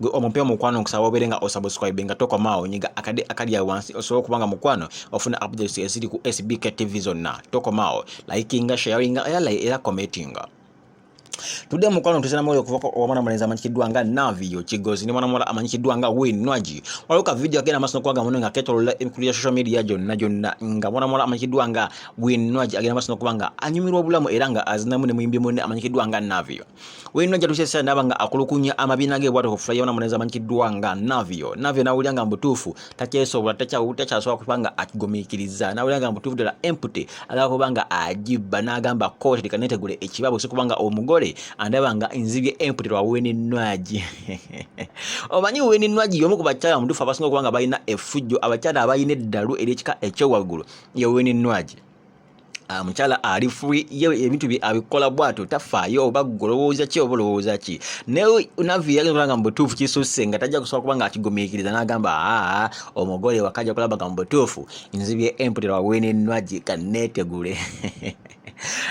gwe omupya mukwano nkusaba obeere nga osubscribe nga tokomaawo nyiga akade akali awo wansi osobola okuba nga mukwano ofuna updates eziri ku sbk tv zonna tokomaawo likinga sharinga era era commentinga tudde mukwano tusana mwoyo okuva omwana mulenzi amanyikiddwa nga navio kigozi ne mwana muwala amanyikiddwa nga winwaji waliwo ka vidiyo agenda maaso nokubaga muno nga ketolola emikulu ya social media gyonna gyonna nga mwana muwala amanyikiddwa nga winwaji agenda maaso nokuba nga anyumirwa obulamu era nga azinamu ne muyimbi munne amanyikiddwa nga navio weyino ajja tukyesa ndaba nga akulukunya amabiina ge bwatyo kufula yona muneza manyikiddwa nga navio navio nawulira nga mbutuufu takyesobola takyasobola kuba nga akigumikiriza nawulira nga mbutuufu ddala empty agala kuba nga agibba n'agamba kooti leka netegule ekibabo si kubanga omugole andaba nga nzibye empty lwa weninwagi omanyi weninwagi yomu ku bakyala mutuufu abasinga okuba nga balina efujjo abakyala abalina eddalu eryekika ekyowaggulu ye weninwagi Ah, mukyala ali free ye ebintu bye abikola bwato tafaayo oba golowooza ki oba olowooza ki naye navi yagenda kulanga mu butuufu kisusse nga tajja kusobola kuba nga akigumiikiriza n'agamba aa omugole wakajja kulaba nga mu butuufu nzibye emputera wawenenwagi kanneetegule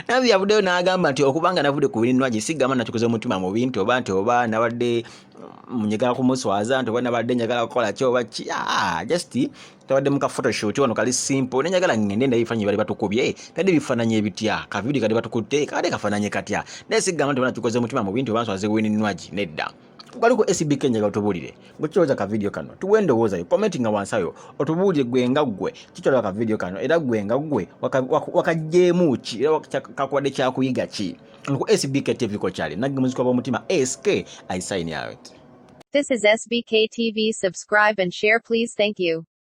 navi yavuddeyo n'agamba nti okuba nga navudde ku wenenwagi sigamba nakikoze omutima mu bintu oba nti oba nabadde mm, njagala kumuswaza nti oba nabadde njagala kukola ki oba ki ah, just tabadde muka photoshoot wano kali simple ne njagala ngende ndaye bifananyi bali batukubye tadde bifananyi ebitya ka video kali batukutte kade kafananyi katya naye sigamba nti bana tukoze mutima mu bintu bantu azewini nwaji nedda kali ku SB Kenya otubulire gwekiroza ka video kano tuwe ndowooza yo commenting nga wansi ayo otubulire gwe nga gwe kitwala ka video kano era gwe nga gwe wakajjeemu ki era kakuwadde kyakuyiga ki ku SBK TV ko kyali nagge muzikwa b'omutima SK I sign out This is SBK TV subscribe and share please thank you